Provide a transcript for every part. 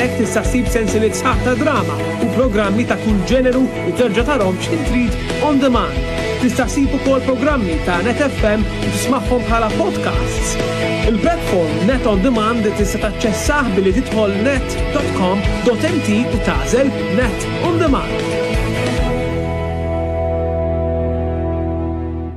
Hemmhekk tista' ssib sensieliet sħaħ ta' drama u programmi ta' kull ġeneru u terġa' tarahom x'ħin trid on demand. Tista' ssib ukoll programmi ta' Net FM u tismagħhom bħala podcasts. Il-platform Net on Demand tista' taċċessah billi tidħol net.com.mt u tagħżel Net on Demand.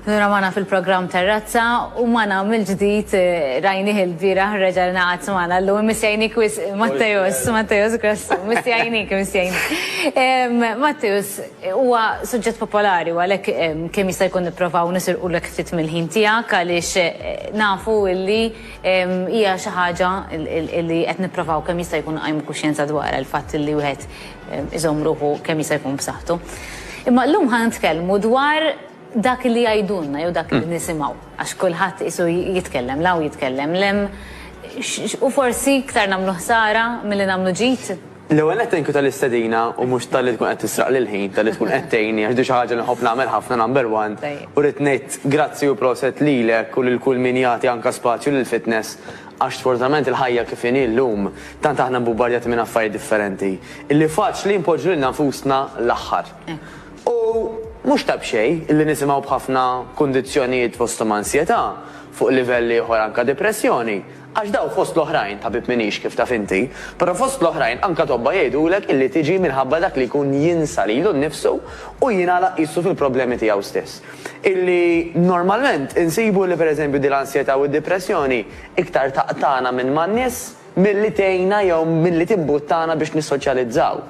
Nura magħna fil-programm Terrazza u magħna mill-ġdid eh, rajnih il-bieraħ reġa' naqgħad magħna llum missjajnik wis Matteus, Matteus Grassu, missjajnik, missjajnik. Matteus huwa suġġett popolari u għalhekk kemm jista' jkun nipprovaw nisirqu lek ftit mill-ħin tiegħek għaliex eh, nafu illi hija xi ħaġa illi qed nipprovaw kemm jista' jkun qajmu kuxjenza dwar il-fatt illi wieħed iżomm ruħu kemm jista' jkun b'saħħtu. Imma llum ħa nitkellmu dwar dak li jgħidulna jew dak li nisimgħu, għax kulħadd qisu jitkellem l-hawn jitkellem l-hemm, u forsi iktar nagħmlu ħsara milli nagħmlu ġid? L-ewwel nett thank you tal-istedina u mhux talli tkun qed tisraqli l-ħin, talli tkun qed tgħinni għax din xi ħaġa li nħobb nagħmel ħafna number one, u rrid ngħid grazzi u proset lilek u lil kull min jagħti anke spazju lill-fitness Għax sfortunatament il-ħajja kif inhi llum, tant aħna mbubbardjati minn affarijiet differenti, illi faċli npoġġu lilna nfusna l-aħħar. U mhux ta' b'xejn illi nisimgħu b'ħafna kundizzjonijiet fosthom ansjetà, fuq livell ieħor anke depressjoni, għax dawn fost l-oħrajn, tabib m'iniex kif taf inti, però fost l-oħrajn anke tobba jgħidulek illi tiġi minħabba dak li jkun jinsa lilu nnifsu u jingħalaq qisu fil-problemi tiegħu stess. illi normalment insibu li pereżempju din l-ansjetà u d-dipressjoni iktar taqtagħna minn man-nies milli tgħinna jew milli timbuttana biex nissoċjalizzaw.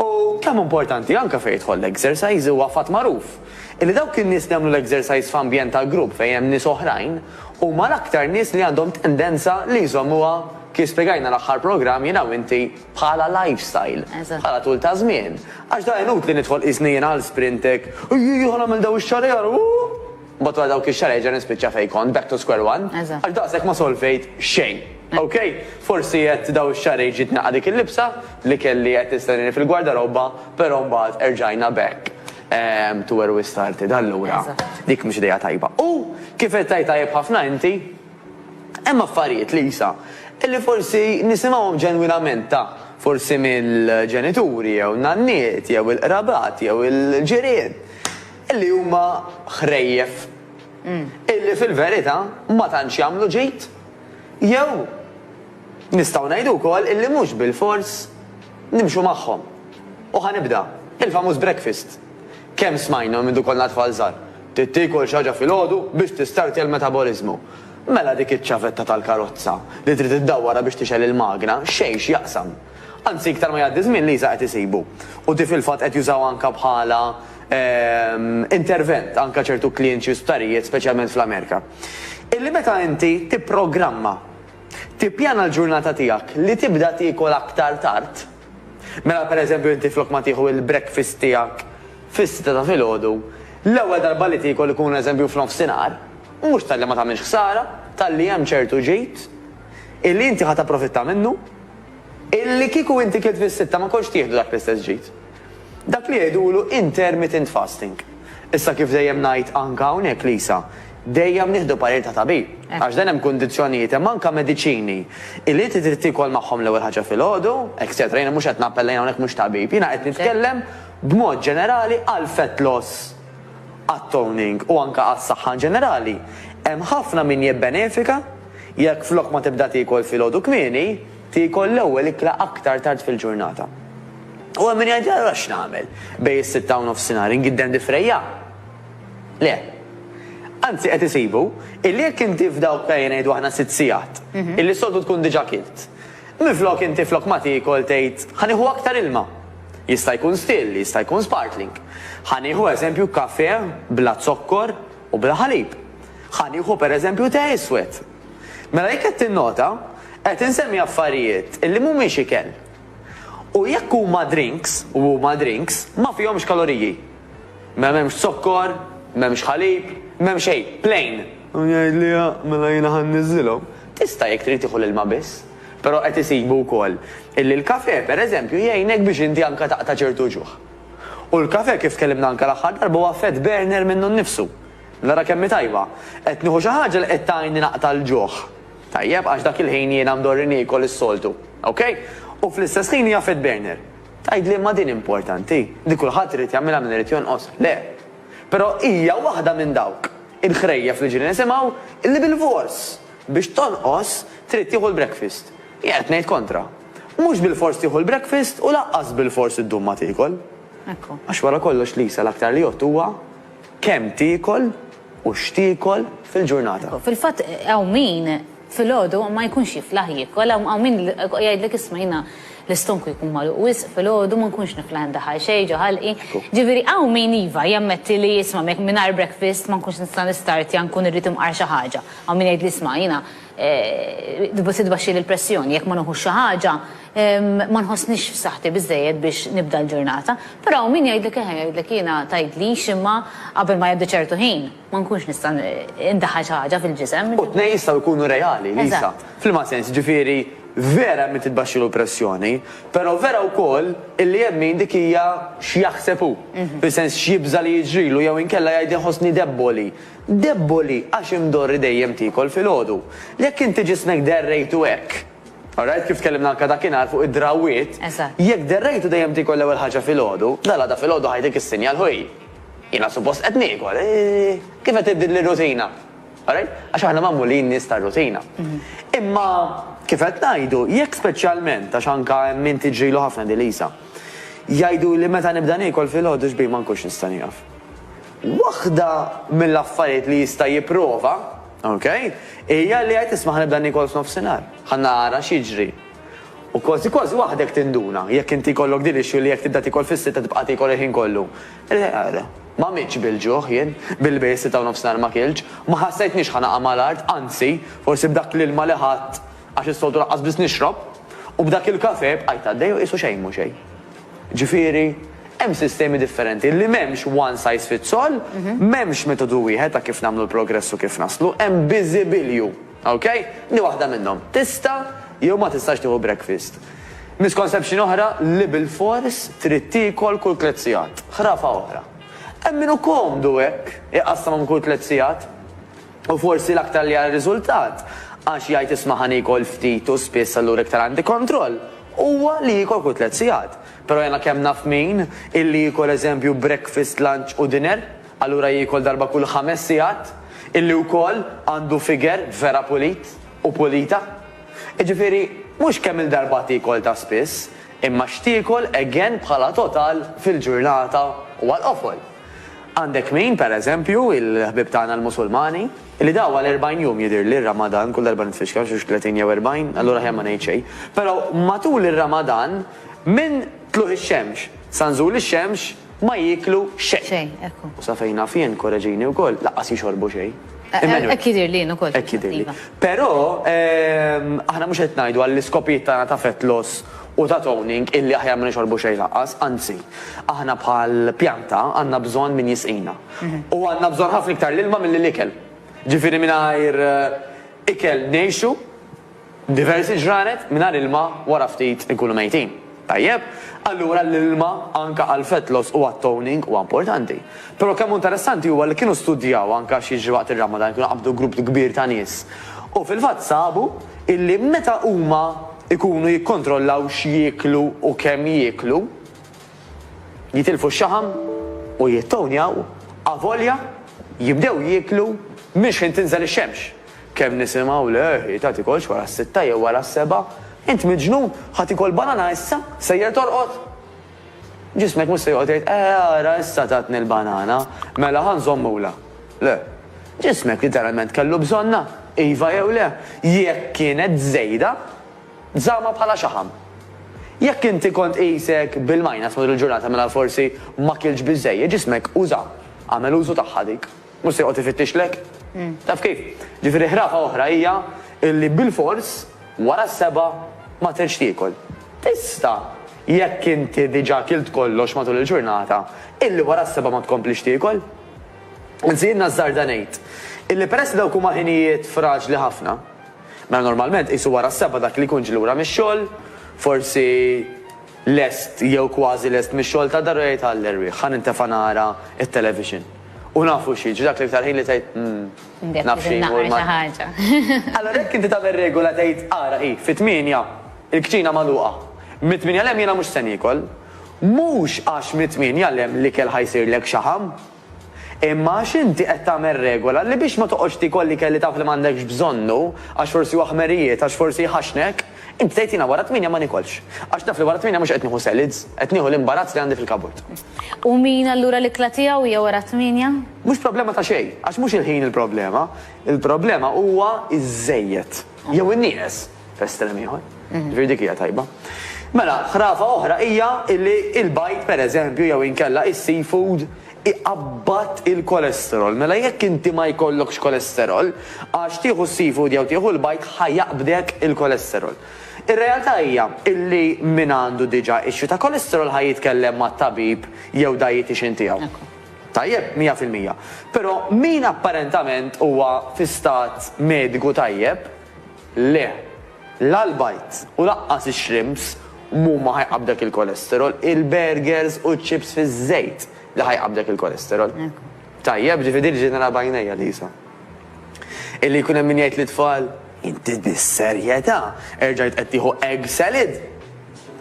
U kemm importanti anke fejn jidħol l-exercise huwa fatt magħruf illi dawk in-nies li jagħmlu l-exercise f'ambjent ta' grupp fejn hemm nies oħrajn huma l-aktar nies li għandhom tendenza li jżommuha kif spjegajna l-aħħar programm jien u inti bħala lifestyle, bħala tul ta' żmien. Għax da inutli nidħol qisni jiena għal Sprintec, ejjejja ħa nagħmel daw ix-xahar ieħor, ooh! Mbagħad wara dawk ix-xahar erġa' nispiċċa fejn kont, back to square one, għax daqshekk ma solvejt xejn. Ok, forsi qed daw ix-xahrejn ġiet naqgħa dik il-libsa li kelli qed tistennieni fil-gwardarobba, però mbagħad erġajna back to where we started. Allura, dik mhux idea tajba. U kif qed tgħid tajjeb ħafna inti, Hemm affarijiet, Lisa, li forsi nisimgħuhom ġenwinament ta' forsi mill-ġenituri jew nanniet jew il-qrabat jew il-ġirien li huma ħrejjef illi fil-verità ma tantx jagħmlu ġid jew nistgħu ngħidu wkoll illi mhux bilfors nimxu magħhom. U ħa nibda, il-famuż breakfast. Kemm smajna minn meta konna tfal żgħar. Trid tiekol xi ħaġa filgħodu biex tistartja l-metaboliżmu. Mela dik iċ-ċavetta tal-karozza li trid iddawwarha biex tixgħel il-magna xejn x'jaqsam. Anzi iktar ma jgħaddi ż-żmien l-ISA qed isibu. U di fil-fatt qed jużawha anke bħala intervent anke ċertu klijenti u sptarijiet speċjalment fl-Amerika. Illi meta inti tipprogramma, tippjana l-ġurnata tiegħek li tibda tiekol aktar tard, Mela per eżempju inti flok ma tieħu il-breakfast tiegħek fis-sitta ta' filgħodu, l-ewwel darba li tiekol ikun eżempju f'nofsinhar, mhux talli ma tagħmilx ħsara, talli hemm ċertu ġid illi inti ħa tapprofitta minnu, illi kieku inti kilt fis-sitta ma kontx tieħdu dak l-istess ġid. Dak li jgħidulu intermittent fasting. Issa kif dejjem ngħid anke hawnhekk Lisa, Dejjem nieħdu parir ta' tabib. Għax dejjem hemm kundizzjonijiet, hemm anke mediċini li inti trid tiekol magħhom l-ewwel ħaġa filgħodu, etcetera. Jiena mhux qed nappella jien hawnhekk mhux tabib. Jiena qed nitkellem b'mod ġenerali għall-fat loss, għat-toning u anke għas-saħħa in ġenerali. Hemm ħafna min jibbenefika jekk flok ma tibda tiekol filgħodu kmieni, tiekol l-ewwel ikla aktar tard fil-ġurnata. U hemm min jgħid, allura x'nagħmel? Bejn is-sitta u nofsinhar ingiddem difrejja? Le. Anzi qed isibu illi jekk inti f'dawk ejja ngħidu aħna sitt sigħat illi s-soltu tkun diġà kilt, minflok inti flok ma tiekol tgħid ħa nieħu aktar ilma. Jista' jkun still, jista' jkun sparkling. Ħa nieħu eżempju kafè bla zokkor u bla ħalib. Ħa nieħu pereżempju te iswed. Mela jekk qed tinnota, qed insemmi affarijiet illi mhumiex ikel. U jekk huma drinks, u huma drinks, ma fihomx kaloriji. Ma m'hemmx zokkor, m'hemmx ħalib, m'hemm xejn, plain! U jgħid liha, mela jiena ħa nniżżilhom. Tista' jekk trid tieħu l-ilma biss. Però qed isibu wkoll illi l-kafè, per eżempju, jgħinek biex inti anke taqta' ċertu ġuħ. U l-kafè, kif tkellimna anke l-aħħar darba, huwa fat burner minnu nnifsu. Nara kemm hi tajba. Qed nieħu xi ħaġa li qed tgħinni naqta' l-ġuħ. Tajjeb, għax dak il-ħin jiena mdorri niekol is-soltu. Okej? U fl-istess ħin hija fat burner. Tgħid li imma din importanti, li kulħadd irid jagħmilha min irid jonqos. Le. Però hija waħda minn dawk il-ħrejjef li ġieli nisimgħu li bilfors biex tonqos trid tieħu l-breakfast. Jien qed ngħid kontra. Mhux bilfors tieħu l-breakfast u lanqas bilfors iddum ma tiekol. Għax wara kollox Lisa l-aktar li jgħodd huwa kemm tiekol, U x'tiekol fil-ġurnata. Fil-fatt hawn min filgħodu ma jkunx jiflaħ jiekol, hawn min jgħidlek isma' jiena l-istonku jkun magħluq wisq filgħodu, ma nkunx niflaħ indaħħal xejn ġo ħalqi. Ġifieri hawn min iva, jammetti li isma' mingħajr breakfast ma nkunx nista' nistartja nkun irrid imqar xi ħaġa. Hawn min jgħidli isma' jiena Se tbaxxili l-pressjoni jekk ma nuħux xi ħaġa, ma nħossnix f'saħħti biżżejjed biex nibda l-ġurnata. Però hawn min jgħidlek eħe, jgħidlek jiena tgħidlix imma qabel ma jgħaddi ċertu ħin ma nkunx nista' ndaħħal xi ħaġa fil-ġisem. U t-tnejn jistgħu jkunu reali, Lisa. F'liema sens? Jiġifieri vera hemm min titbaxxilu l-pressjoni, però vera wkoll illi hemm min dik hija x'jaħseb hu, fis-sens x'jibża' li jiġrilu jew inkella jgħid inħossni debboli. Deboli għax imdorri dejjem tiekol filgħodu. Jekk inti ġismek derrejtu hekk. Alright, kif tkellimna anke dakinhar fuq id-drawwiet. Eżatt. Jekk derrejtu dejjem tiekol l-ewwel ħaġa filgħodu, dalgħada filgħodu ħajtik is-sinjal ħuj. Jiena suppost qed niekol. Kif qed tibdil lir-rutina. Alright? Għax aħna magħmulin nies tar-rutina. Imma kif qed ngħidu, jekk speċjalment, għax anke hemm min tiġrilu ħafna din Lisa. Jgħiduli meta nibda niekol filgħodu xbih ma nkunx nista' nieqaf. Waħda mill-affarijiet li jista' jipprova, ok, hija li jgħid isma' ħa nibda niekol f'nofsinhar, ħa nara x'jiġri. U kważi kważi waħdek tinduna, jekk inti jkollok din l-issue li jekk tibda tiekol fis-sitta tibqa' tiekol il-ħin kollu. Ma mitx bil-ġuħ jien, billi bejn is-sitta u nofsinhar ma kiltx, ma ħassejtnix ħa naqa' mal-art, anzi, forsi b'dak l-ilma li ħadt, għax is-soltu lanqas biss nixrob, u b'dak il-kafè bqajt għaddej u qisu xejn mhu xejn. Ġifieri, hemm sistemi differenti li m'hemmx one size fits all, m'hemmx metodu wieħed ta' kif nagħmlu l-progress u kif naslu, hemm biżibilju. Ok? Di waħda minnhom. Tista' jew ma tistax tieħu breakfast. Misconception oħra li bilfors trid tiekol kull tliet sigħat. Ħrafa oħra. Hemm min hu komdu hekk, iqassamhom kull tliet sigħat. U forsi l-aktar li għar-riżultat, għax jgħid isma' ħa niekol ftit u spiss allura iktar għandi kontroll, huwa li jiekol kull tliet sigħat. Però jiena kemm naf min, illi jiekol eżempju breakfast, lunch u dinner, allura jiekol darba kull ħames sigħat, illi wkoll għandu figure vera pulit u pulita. Jiġifieri, mhux kemm il-darba tiekol ta' spiss, imma x'tiekol again bħala total fil-ġurnata u għall-qofol. Għandek min, per eżempju, il-ħbieb tagħna l-Musulmani, li daw għal erbgħin jum jidhirli r-Ramadan, kull darba nitfixkel xi tletin jew erbgħin, allura aħjar ma ngħid xejn, però matul ir-Ramadan minn tlugħ ix-xemx sa nżul ix-xemx ma jieklu xejn. Xejn, ekku. U sa fejn naf jien, korreġini wkoll, lanqas jixorbu xejn. Emmanuel. Hekk jidhirli jien ukoll. Hekk jidhirli. Iva. Però aħna mhux qed ngħidu għall-iskopijiet tagħna ta' fat loss u ta' toning illi aħjar ma nixorbu xejn lanqas, anzi, aħna bħal pjanta għandna bżonn min jisqina. U għandna bżonn ħafna iktar l-ilma milli l-ikel. Ġifieri mingħajr ikel ngħixu diversi ġranet, mingħajr ilma wara ftit inkunu mejtin. Tajjeb? Allura l-ilma anke għall-fat loss u għat-toning huwa importanti. Però kemm hu interessanti huwa li kienu studjaw anke x'jiġri waqt ir-Ramadan, kienu qabdu grupp kbir ta' nies u fil-fatt sabu illi meta huma, ikunu jikkontrollaw x'jieklu u kemm jieklu, jitilfu x-xaħam u jittownjaw avolja jibdew jieklu minn xħin tinżel ix-xemx. Kemm nisimgħu le ħita tikolx wara s-sitta jew wara s-sebgħa, int miġnun, ħa tikol banana issa, sejjer torqod? Ġismek mhux se joqgħod jgħid, Eh, ara issa tatni l-banana, mela ħa nżommulha. Le. Ġismek literalment kellu bżonnha, iva jew le. Jekk kienet żejda, żammha bħala xaħam. Jekk inti kont qisek bil-minus matul il-ġurnata mela forsi ma kiltx biżżejjed, ġismek uża, għamel użu tagħha dik. Mhux se joqgħod ifittixlek. Taf kif? Ġifieri ħrafa oħra hija illi bilfors wara s-sebgħa ma tridx tiekol. Tista', jekk inti diġà kilt kollox matul il-ġurnata, illi wara s-sebgħa ma tkomplix tiekol. Anzi jien nażżarda ngħid illi peress li dawk huma ħinijiet fraġli ħafna, mela normalment qisu wara s-sebgħa dak li jkun ġie lura mix-xogħol, forsi lest jew kważi lest mix-xogħol ta' dar u jgħid għall-erwieħ, ħa nintefa' nara t-television. U nafu xi, jiġri dak l-iktar ħin li tgħid, 'umm, naf xi jmur mal-. Allura jekk inti tagħmel regola tgħid, 'ara hi, fit-tmienja, il-kċina magħluqa. Mit-tmienja 'l hemm jiena mhux se niekol. Mhux għax mit-tmienja 'l hemm l-ikel ħa jsirlek xaħam. Imma għax inti qed tagħmel regola li biex ma toqgħodx tiekol l-ikel li taf li m'għandekx bżonnu għax forsi huwa ħmerijiet, għax forsi jħaxxnek, inti tgħid jiena wara t-tmienja ma niekolx. Għax naf li wara t-tmienja mhux qed nieħu selids, qed nieħu l-imbarazz li għandi fil-kaburt. U min allura l-ikla tiegħu hija wara t-tmienja? Mhux problema ta' xejn, għax mhux il-ħin il-problema. Il-problema huwa ż-żejjed. Jew in-nieqes. f'estrem ieħor. Ġifieri dik hija tajba. Mela, ħrafa oħra hija li il-bajt pereżempju jew inkella is-seafood iqabbat il-kolesterol. Mela jekk inti ma jkollokx kolesterol, għax tieħu s-seafood jew tieħu l-bajt ħajaqbdek il-kolesterol. Ir-realtà hija illi min għandu diġà issue ta' kolesterol ħaj jitkellem ma' tabib jew dietitian tiegħu. Tajjeb, 100%. Però min apparentament huwa fi stat mediku tajjeb, Le. La l-bajd u laqqas ix-shrimps m'huma ħajqabdek il-cholesterol, il-burgers u ċ-chips fiż-żejt li ħajqabdek il-cholesterol. Tajjeb, ġifieri din ġejt nara b'għajnejja, Lisa. Illi jkun hemm min jgħid lit-tfal, Inti bis-serjetà erġajt qed tieħu egg salad?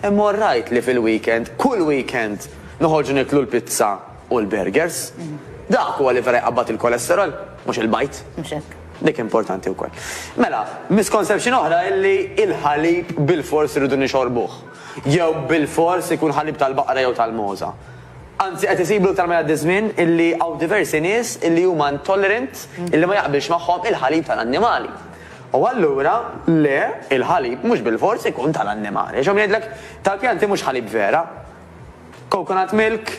Imma all right li fil-weekend, kull weekend, noħorġu nieklu l-pizza u l-burgers. Dak huwa li vera jqabbad il-cholesterol, mhux il-bajd. Mhux hekk. Dik importanti wkoll. Mela, misconception oħra hi li l-ħalib bilfors irridu nixorbuh. Jew bilfors ikun ħalib tal-baqra jew tal-mogħża. Anzi qed isibu iktar ma jgħaddi ż-żmien li hawn diversi nies li huma intolerant li ma jaqbilx magħhom il-ħalib tal-annimali. U allura le, il-ħalib mhux bilfors ikun tal-annimali. Għax hawn min jgħidlek tal-pjanti mhux ħalib vera. Coconut milk,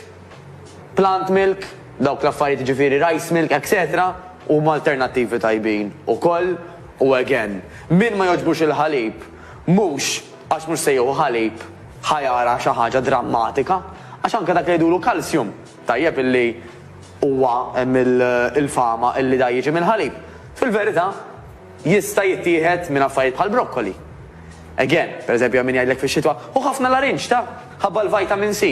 Plant milk, dawk l-affarijiet jiġifieri rice milk etc huma alternattivi tajbin ukoll u again min ma jogħġbux il-ħalib mhux għax mhux se jieħu ħalib ħa jara xi ħaġa drammatika għax anke dak li jgħidulu calcium tajjeb illi huwa hemm il-fama illi da jiġi mill-ħalib fil-verità jista' jittieħed minn affarijiet bħal broccoli again pereżempju hemm min jgħidlek fix-xitwa ħu ħafna larinġ ta ħabba l-vitamin C.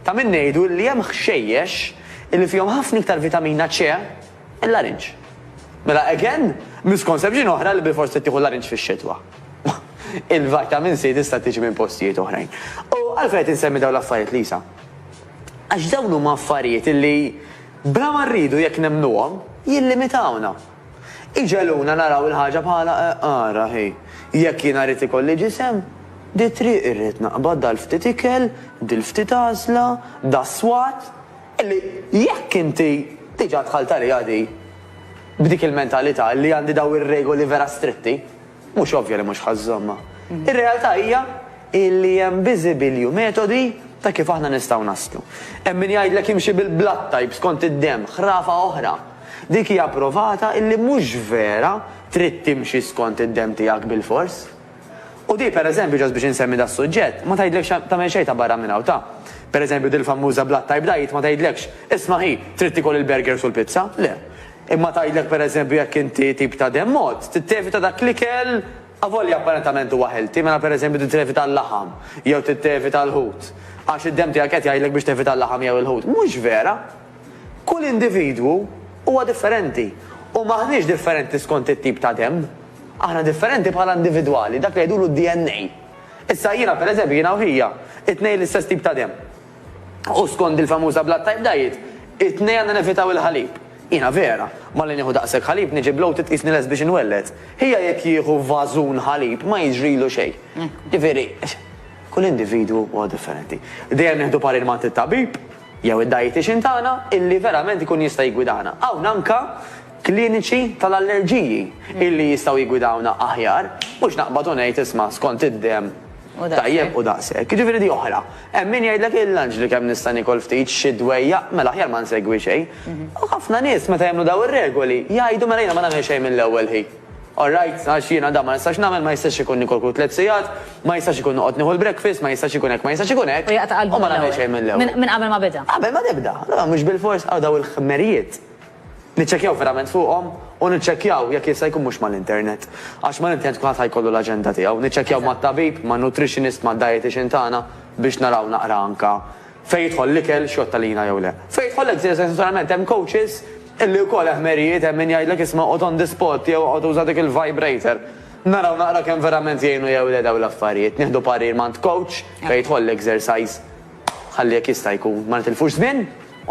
Ta' min ngħidu li hemm ħxejjex illi fihom ħafna iktar vitamina C mill-larinġ. Mela again, misconception oħra li bilfors trid tieħu l-larinġ fix-xitwa. Il-vitamin C tista' tiġi minn postijiet oħrajn. U għalfejn qed insemmi dawn l-affarijiet, Lisa? Għax dawn huma affarijiet illi bla ma rridu jekk nemmnuhom jillimitawna. Iġegħluna naraw il-ħaġa bħala għara, hi, jekk jiena rrid ikolli ġisem, dit-triq irrid naqbad dal-ftit ikel, dil-ftit għażla, das-swat, illi jekk inti diġà dħalt għaliha di, b'dik il-mentalità li għandi dawn ir-regoli vera stretti. Mhux ovvja li mhux ħa żżommha. Ir-realtà hija li hemm biżibilju metodi ta' kif aħna nistgħu naslu. Hemm min jgħidlek imxi bil-blood type skont id-demm, ħrafa oħra. Dik hija pprovata li mhux vera trid timxi skont id-demm tiegħek bilfors. U di, per eżempju, ġost biex insemmi das-suġġett, ma tgħidlek xejn tagħmel xejn ta' barra minn hawn ta'. Per eżempju, dil-fammuża blood type diet ma tgħidlekx, isma' ħi, trid tiekol il-burgers u l-pizza. Le. Imma tgħidlek pereżempju jekk inti tip ta' demm mod, tittevita dak l-ikel avolja apparentement huwa healthy, mela pereżempju tittevita l-laħam jew tittevita l-ħut għax id-demm tiegħek qed jgħidlek biex tevita l-laħam jew il-ħut. Mhux vera! Kull individwu huwa differenti u m'aħniex differenti skont it-tip ta' demm. Aħna differenti bħala individwali, dak li jgħidulu d-DNA. Issa jiena pereżempju jiena u ħija, it-tnejn l-istess tip ta' demm. U skond il-famuża blood type diet, it-tnejn għandna nevitaw il-ħalib. Jiena vera, malli nieħu daqshekk ħalib niġi bloated qisni lest biex inwelled. Ħija jekk jieħu vażun ħalib ma jiġrilu xejn. Ġifieri, kull individwu huwa differenti. Dejjem nieħdu parir m'għand it-tabib jew id-dietician tagħna illi verament ikun jista' jiggwidana. Hawn anke kliniċi tal-allerġiji illi jistgħu jiggwidawna aħjar, mhux naqbad u ngħid isma' skont id-demm tajjeb u daqshekk. Jiġifieri di oħra. Hemm min jgħidlek il-lunch li kemm nista' niekol ftit, xi dwejjaq, mela aħjar ma nsegwi xejn. U ħafna nies meta jagħmlu dawn ir-regoli jgħidu mela jiena ma nagħmel xejn mill-ewwel ħin. All right, għax jiena dan ma nistax nagħmel, ma jistax ikun nikol kull tliet sigħat, ma jistax ikun noqgħod nieħu l-breakfast, ma jistax ikun hekk, ma jistax ikun hekk, u ma nagħmel xejn mill-ewwel. Minn qabel ma beda. Qabel ma tibda. Allura mhux bilfors hawn dawn il-ħmerijiet. Niċċekkjaw verament fuqhom u niċċekkjaw jekk jista' jkun mhux mal-internet. Għax mal-internet kulħadd ħa jkollu l-aġenda tiegħu. Niċċekkjaw mat-tabib, man-nutritionist, mad-dietician tagħna biex naraw naqra anke fejn jidħol l-ikel, x'jgħodd għalina jew le. Fejn jidħol l-eżerċizzju għax naturalment hemm coaches illi wkoll eħmerijiet hemm min jgħidlek isma' oqgħod on the spot jew oqgħod uża dik il-vibrator. Naraw naqra kemm verament jgħinu jew le dawn l-affarijiet. Nieħdu parir m'għand coach fejn jidħol l-exercise ħalli jekk jista' jkun ma nitilfux żmien.